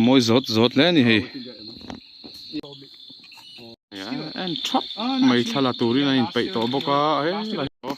mawi zawt zawt hle a ni hei en thap mai thla la turin an inpeih tawh bawk a helai hi aww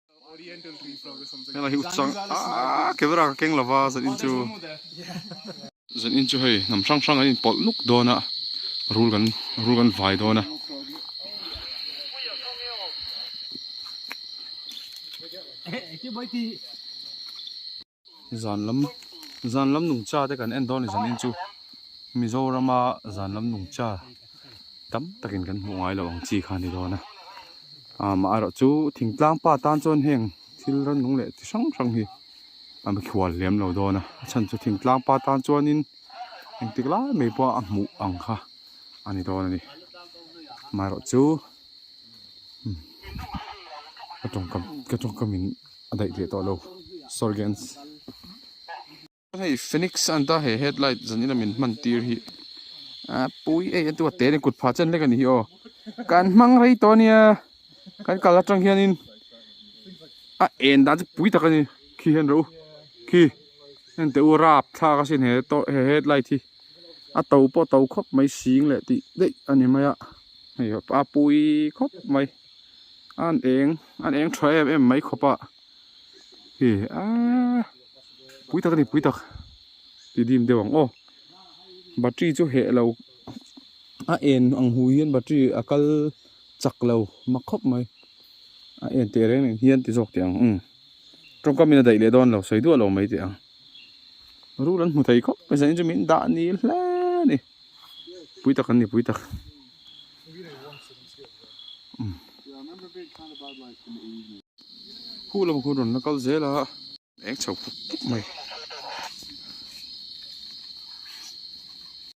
Helahi u chang aah camera ka keng lova zan in chu zan in chu hei hnam hrang hrang an in pawlh nuk dawn a rul kan rul kan vai dawn a ehh ehh ehh ti bawi ti. Zan lam zan lam nung cha te kan en dawn nizan in chu Mizoram a zan lam nung cha tam tak in kan hmuh ngai lo ang chi kha ni dawn a. A mah erawh chu thing tlang pa tan chuan heng thil ran nung leh chi hrang hrang hi an be thual hliam lo dawn a. A chhan chu thing tlang pa tan chuan in engtik lai mai pawh a hmuh ang kha a ni dawn a ni. Amaherawhchu. ka tawngka ka tawngka min a daih leh tawh lo sorry gents hei phoenix a anta he headlight zan ila min hman tir hi a pui ei a duatte nen kut phah chen hlek a ni hi aw kan hmang rei tawh a nia kan kal atang hianin a en dan chu pui tak a ni khi hian rau khi heng teh u rap thlak a sin he tawh he headlight hi a to pawh to khawp mai sing leh tih daih a ni mai a hei a pui khawp mai an eng an eng tha em em mai khawp a he aaa pui tak a ni pui tak ti dim deuh ang aw battery chu heh lo a en ang hu hian battery a kal chak lo mak khawp mai a en teh reng reng hian ti zawk teh ang tawngkamin a daih leh dawn lo sawi duah lo mai teh ang. rul an hmu thei khawp mai zain chu min dah ni hle a ni pui tak an ni pui tak huh lama khawn rawn la kal zel a eng chho khawp khawp mai.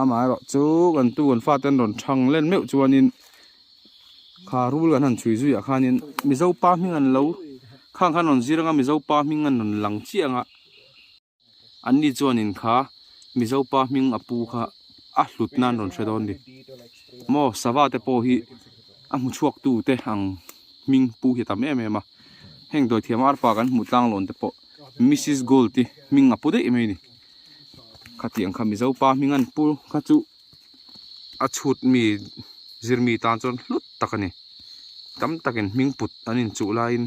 amah erawh chu kan tu kan fate an rawn chhang len meuh chuanin kha rul kan han chhui zuiah khanin mizo pa hming an lo khang khan an rawn zir anga mizo pa hming an rawn lang chiah ang a an ni chuanin kha mizo pa hming a pu kha a hlut nan an rawn hre dawn a ni maw sava te pawh hi a hmu chhuak tu te ang hming pu hi a tam em em a heng dawithiam arpa kan hmuh tlang lawn te pawh missis gold hi hming a pu daih mai a ni. khati ang kha mizo pa hming a ni pu kha chu a chhut mi zir mi tan chuan hlut tak a ni tam takin hming put an in chuh laiin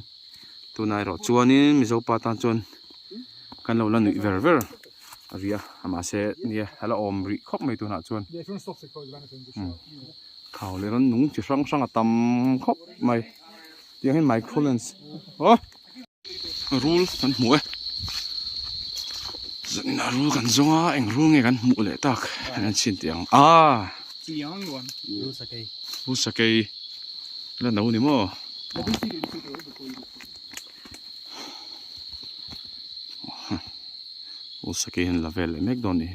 tuna erawh chuanin mizo pa tan chuan kan lo la nuih ver ver a ni a mahse nia a la awm rih khawp mai tunah chuan umm thau leh rannung chi hrang hrang a tam khawp mai tiang in microphone aww. rul kan hmu e zawina rul kan zawng a eng rul nge kan hmuh leh tak hian an chhin tih ang ah rul sakei rul sakei la no ni maw rul sakei hian la vel leh mek dawn a ni.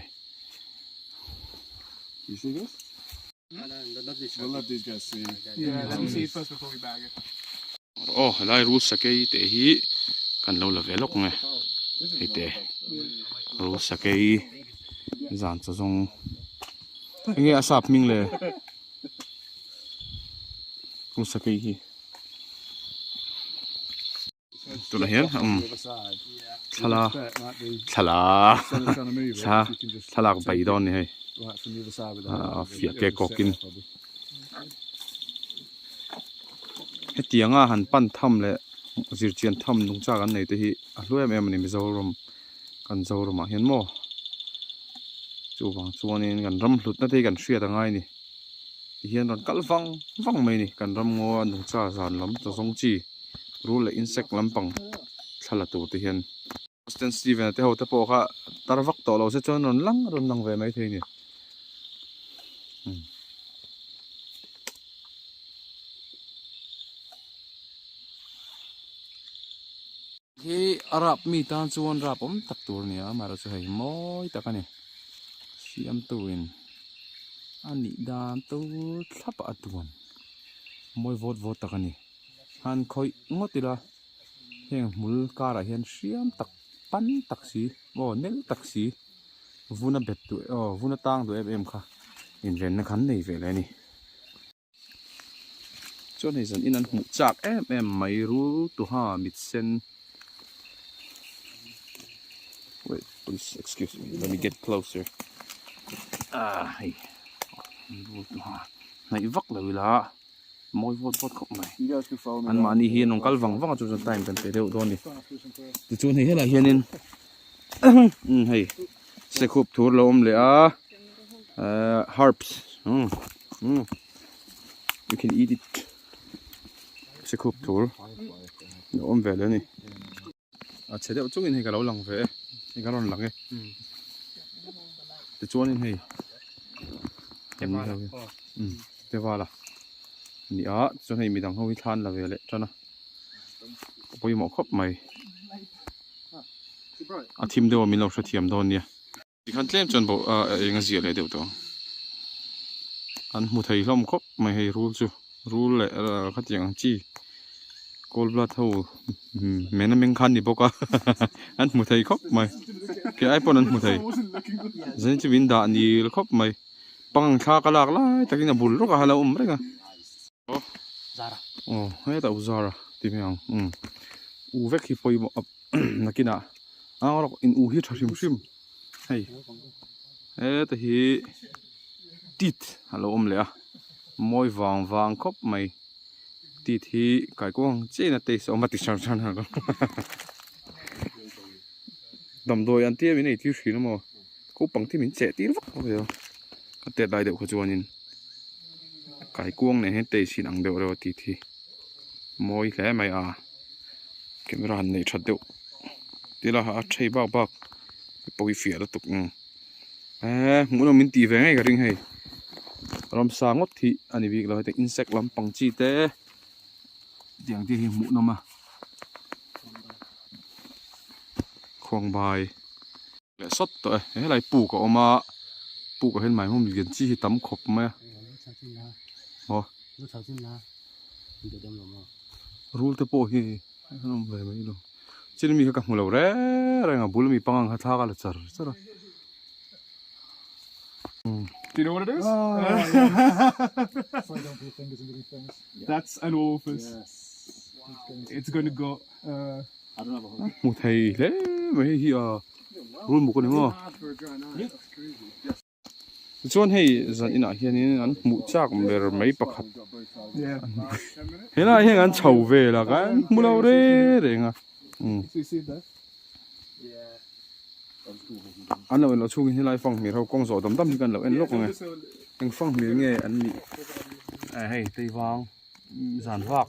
Aw helai Ruth Sakei te hi kan lo la ve lawk nge hei te Ruth Sakei zan chu zawng eng nge a sap hming le Ruth Sakei hi. tunah hian umm thlala thlala thla thlalak bai dawn a ni hei ah fiah ke kawk in hetianga han pan tham leh zirchian tham nung chak an nei te hi a hluai em em a ni mizoram kan zoram ah hian maw chuvang chuan in kan ramhlutna te hi kan hriat angai a ni. ti hian rawn kal vang vang mai a ni kan ramngaw a nungcha zan lam ta zawng chi rul leh insect lampang thla la tur te hian Austin Steven te ho te pawh kha tar vak tawh lo se chuan rawn lang rawn lang ve mai thei a ni hmm. He a rap mi tan chuan rapawm tak tur a ni a, amaherawhchu hei mawi tak a ni. Siamtuin a nih dan tur thlap a tuam, mawi vawt vawt tak a ni. Han khawih ngawt ila, heng hmul karah hian hriam tak, pan tak si, aw nel tak si, vun a bet duh aw vun a tang duh em em kha invenna kha an nei ve leh a ni. Chuan hei zan in an hmuh chak em em mai ru tuha mit sen wait please excuse me let me get closer ah hei ru tuha hnaih vak lo ila mawi vawt vawt khawp mai an mahni hi an kal vang vang chu chuan time kan pe deuh dawn ni ti chuan hei helah hianin hei sekhup thur lo awm leh a ehh herbs umm umm you can eat it sekhup thur a awm ve leh a ni a chhe deuh chungin hei ka lo lang ve e hei ka rawn lang e tichuanin hei umm tevala a ni a tichuan hei midang ho hi thlan la ve leh than a a pawimawh khawp mai. a thim deuh a min lo hrethiam dawn nia. Tikhan tlem chuan bo a eng a ziah leh deuh tawh ang. An hmu thei hlawm khawp mai hei rul chu. Rul leh khatiang ang chi cold blood ho men a meng kha a ni bawk a an hmu thei khawp mai. Khe ai pawn an hmu thei. Zeng chu min dah nil khawp mai. Pangang thla ka lak lai takin a bul rawk a a lo awm reng a. Zara. Oh, heta u Zara ti mai ang. Um. U vek hi poimaw a nakina. Ang rawk in u hi tha hrim hrim. Hei. Heta hi tit a lo awm leh a. Mawi vang vang khawp mai. Tit hi kaikuang china taste a awm a ti hran hran. Damdawi an tia min ei tir thin a maw. ko pang khi min cheh tir vak vak mai a ka tet lai deuh kha chuanin kai kuang nen hian taste hi an ang deuh reuh a ti thi mawi hle mai a camera han neih that deuh ti la a thei bak bak te pawh hi fiah lutuk ang eee hmuh nawm min tih ve ngei ka ring hei ram sa ngawt khi a ni bik lo heti insect lam pang chi te tiang te hi hmuh nawm a khuang bai. leh sawt tawh e, helai puk a awm a, puk ah hian maimawm lian chi hi tam khawp mai a, aw rul te pawh hi an awm ve mai lo, chin mi kha ka hmu lo reng reng a, a bul ami panga kha thlak a la char char a, hmu thei hle mai hei hi a rul muk a ni maw chuan hei zan inah hian in an hmuh chak ber mai pakhat he lah heng an chho vel a kan hmu lo re reng a um an lo en loh chhungin helai fanghmir ho kawng zawh dam dam hi kan lo en lawk ang e heng fanghmir nge an nih a hei teivang zan vak.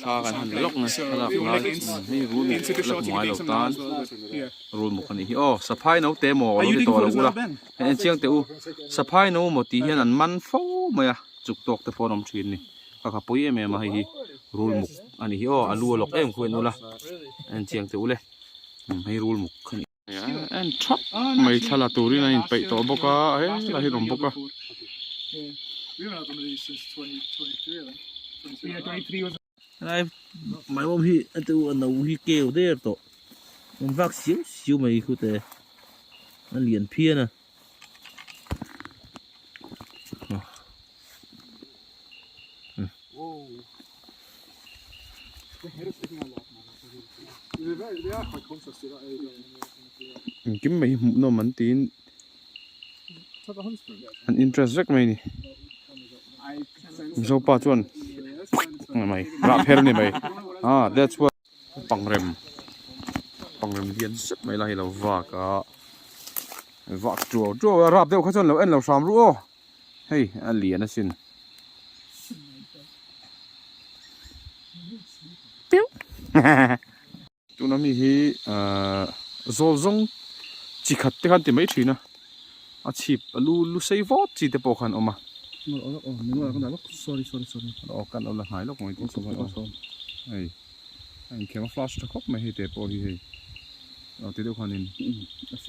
Thla kan han lawk nge thlalak lai eng hei rul muk a la hmu ai lo tan rul muk a nih hi aw saphai no te maw awlo ti tawh lo ula hei en chiang teh u saphai no maw tih hian an man fo mai a chuk tawk te pawh an awm thin ni ka kha pui em em a hei hi rul muk a nih hi aw a lu a lawk em khuh en ula en chiang teh ule hei rul muk kha ni. en thap mai thla la turin a inpeih tawh bawk a a heng lah hi a awm bawk a. Helai mai mawm hi a tu a no hi keu der tawh, vaak siau siau mai khute a lian phian a. an kim mai hi hmuh nawm an tiin an interest vek mai a ni mizopa chuan a ni mai rah pher a ni mai ah that's why . Pangrem, pangrem lian zet mai ila hi lo vak a, vak tuau tuau a, rap deuh kha chuan lo en lo hram ruh aw, hei a lian asin. Tuna mi hi zawl zawng chi khat te khan ti mai thin a. a chhip a lu lu sei vawt chi te pawh khan awm a aw kan awmna hnai lawk mai tih chu kan awm hei a inkhema flash tha khawp mai hei te pawh hi hei aw ti deuh khan in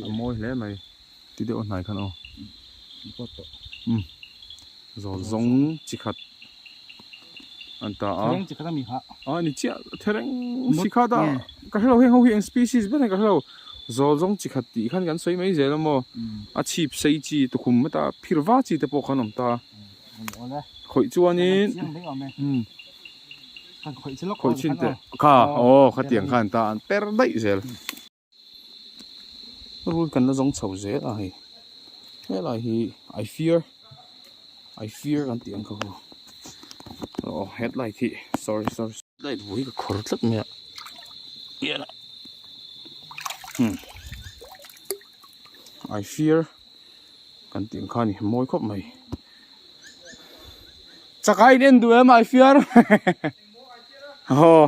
a mawi hle mai ti deuh a hnai khan aw zawlzawng chi khat. an ta a thereng chi khat ami kha a ni chiah thereng si kha ta ka hre lo heng ho hi eng species ber ka hre lo zawl zawng chi khat tih khan kan sawi mai zel a maw a chhip sei chi tukhum heta phir va chi te pawh khan awm ta khawih chuanin khawih chin teh ka aw khatiang khan ta an per daih zel rul kan la zawng chho zel a hei helai hi i fear i fear kan tih ang kha hawh aw headlight hi sorry sorry light buai ka khawr tlat mai a ian hmm i fear kan tih ang kha ni mawi khawp mai chakai in en duh em i fear aw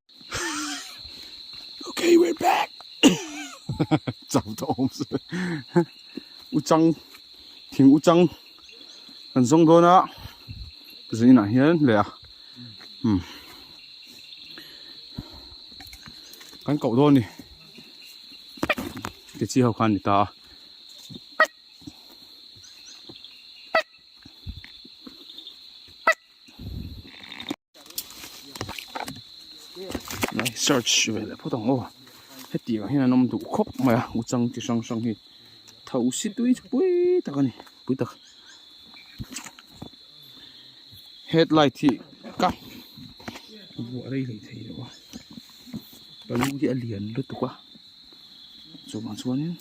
okay, we're back. Chau ta om se. U chang thing u chang kan zong do na. Zin na hian le a. Hmm. Kan kau do ni. Ti chi ho khan ni ta. church ve leh phawt ang aw heti ah hian an awm duh khawp mai a u chang chi hrang hrang hi tho si tui pui tak a ni pui tak head light hi ka vuah rei rei thei lo a balloon hi a lian lutuk a chuvang chuan in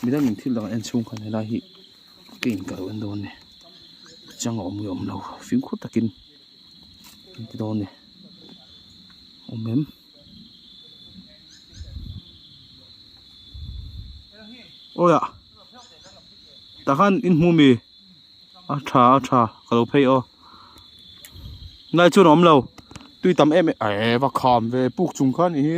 midang in thil dang ah hian chhungkam hela hi-- Clean ka en dawn a ni a chang a awm nge awm lo fing khaw takin kan ti dawn a ni awm em. Awia tah khan in hmu ami a tha a tha ka lo phei a nai chuan a awm lo tui tam em em eeh va kham ve puk chung kha a ni hi.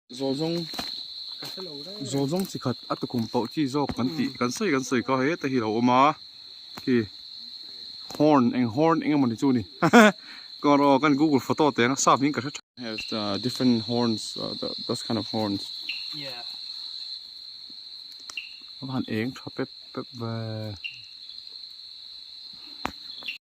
Zaw zawng zaw zawng chi khat a tukum poh chi zawk kan tih kan sawi kan sawi kha heta hi a lo awm a khi horn eng horn eng emaw ni chu ni kawng rawh kan google photo teh ang a sap in ka hre tha has the different horns uh, the, those kind of horns yeah aban eng tha pep pep ve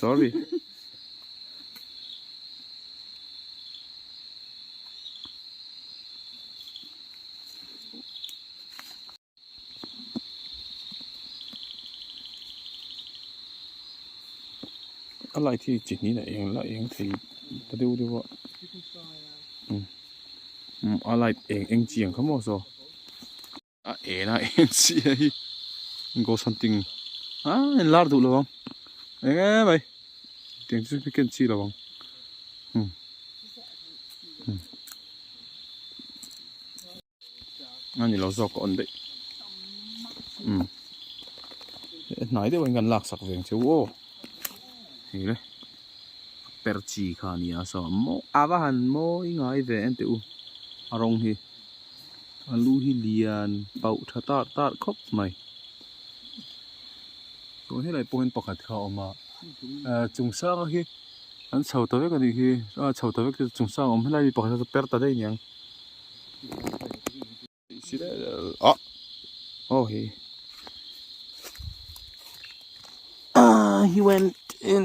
sorry a lai thi chi ni na eng la eng thei ta deuh deuh a um a lai eng eng chi ang kha maw saw. a en a en si a hi ghost hunting a en lar duh lovang eng e mai tiang chu mi ken chi lovang hmm. hmm. ani lo zawk on dei um hmm. eh, hnai deuh in kan lak sak veng chu o hi le per chi kha nia so mo ava han mo i ngai ve en te u arong hi a lu hi lian pauh tha târ târ khawp mai chuan helai pawh hian pakhat kha a awm a ahh chung sâng hi an chho ta vek a nih hi a chho ta vek te chu chung sâng awm helai mi pakhat hian per ta daih a niang ah aw he ahh he went in.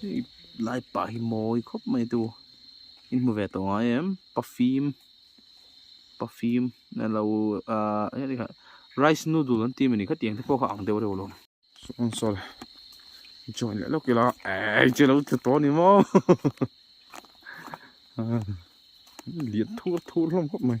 hei lai pa hi mawi khawp mai a tu i hmu ve tawh ang a em pa fim pa fim a lo ah eng tikah rice noodle an tih a ni kha tiang te pawh kha a ang deuh reuh lo chuan saw leh join leh lawk ila ai che lo tlu tawh a ni maw lian thur thur hlawm khawp mai.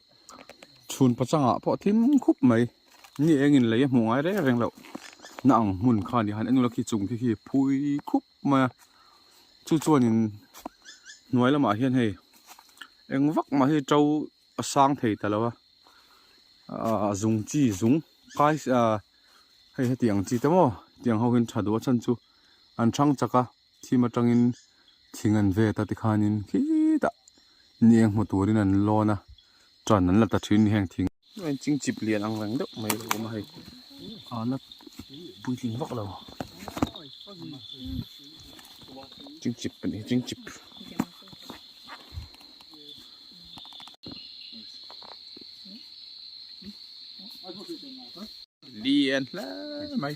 chhunpaw changah pawh tling khup mai ni eng in lei a hmuh ngai reng reng loh na ang hmun kha ni han englo khi chung te khi phui khup mai a chu chuanin hnuai lamah hian hei eng vak mah hi to a sang thei ta lo a a zung chi zung kai ah hei hetiang chi te maw tiang ho hian tha duh a chan chu an chhang chak a. thim atangin thing an vet a tikhanin khitah ni eng hmu turin an lawn a tan an la ta thin a ni heng thing engin ching chip lian ang reng deuh mai a lo awm a hei ahna puitling vak lo ching chip pawh nih ching chip lian hle mai.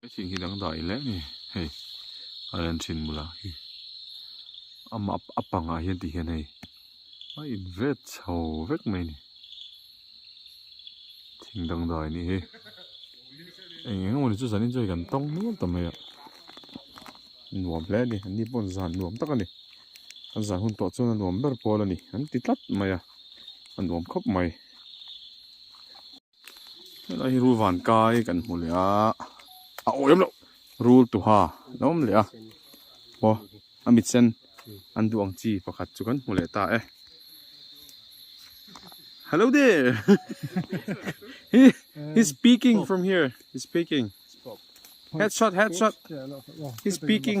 He thing hi dang daih hle ni, hei a rawn thin bula hi ama a pangah hian ti hian hei a in vet chho vek mai a ni, thing dang daih a ni hi eng eng emaw ni chu zan enjoy kan tawng nual ta mai a, nuam hle a ni an ni pawh zan nuam tak a ni, an zan hun tawh chuan a nuam ber pawl a ni an ti tlat mai a, a nuam khawp mai. Helai hi rul van kai kan hmu leh a a awi lem lo rul tuha alo awm leh a aw a mit sen an duh ang chi pakhat chu kan hmu leh ta e hello there he he speaking from here he speaking head shot head shot he speaking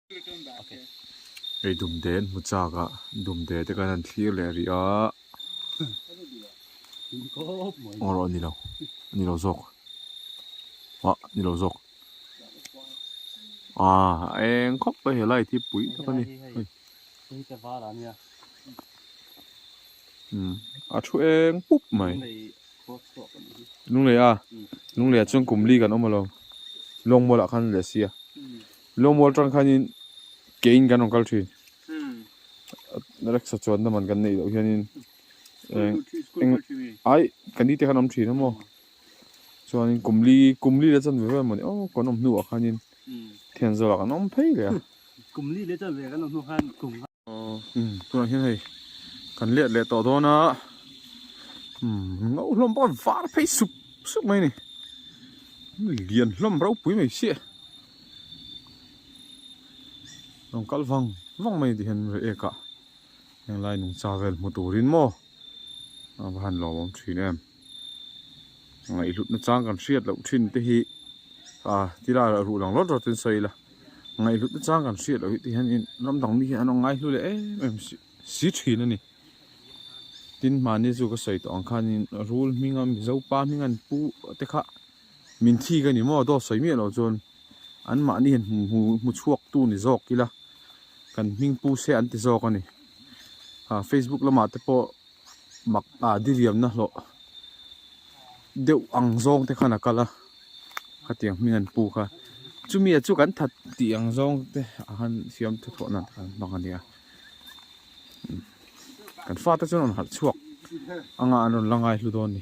Hei dumden hmu chakah dumde te kan han thlir leh rih a aw rawh a nilo a nilo zawk ah a nilo zawk ah a eng khawp mai he light hi pui tak a ni umm a thu eng pup mai Lungleia Lungleia chuan kum li kan awm alawm lawng mawlah khan leh sia. Lawmual ṭang khanin keiin kan rawn kal ṭhin. Reksa chuan naman kan neih loh hianin eng eng ai kan dite kan awm ṭhin a maw. Chuanin kumli kumli leh chuan ve ve mawni aw kan awm hnuah khanin thian zawlah kan awm phei leh a. Kumli leh chuan ve kan awm hnu khan kum. tunah hian hei kan let leh tawh dawn a no hlawm bawk a var phei sup sup mai a ni lian hlawm ropui mai se rawn kal vang vang mai tih hian rei ek a heng lai nungcha vel hmu turin maw ava han lawmawm thin em. ngaihlutna chang kan hriat loh thin te hi ah ti laiah a ruh lang rawt rawt in sawi ila ngaihlutna chang kan hriat loh hi ti hian in ram dang mi hi an rawn ngaihlu leh em em si si thin a ni tin mahni chu ka sawi tawh ang khan in rul hming a mizo pa hming a ni pu te kha min thik a ni maw daw sawi miah loh chuan an mahni hian hmu hmu hmu chhuak tu ni zawk ila kan hming pu se an ti zawk a ni ah facebook lamah te pawh mak ah diriam na hlawh deuh ang zawng te khan a kal a, khatiang hming an pu kha chumi ah chu kan that tih ang zawng te a han siam tha thlawh nan an hmang a nia, kan fate chuan a rawn halh chhuak anga an rawn la ngai hlu dawn a ni.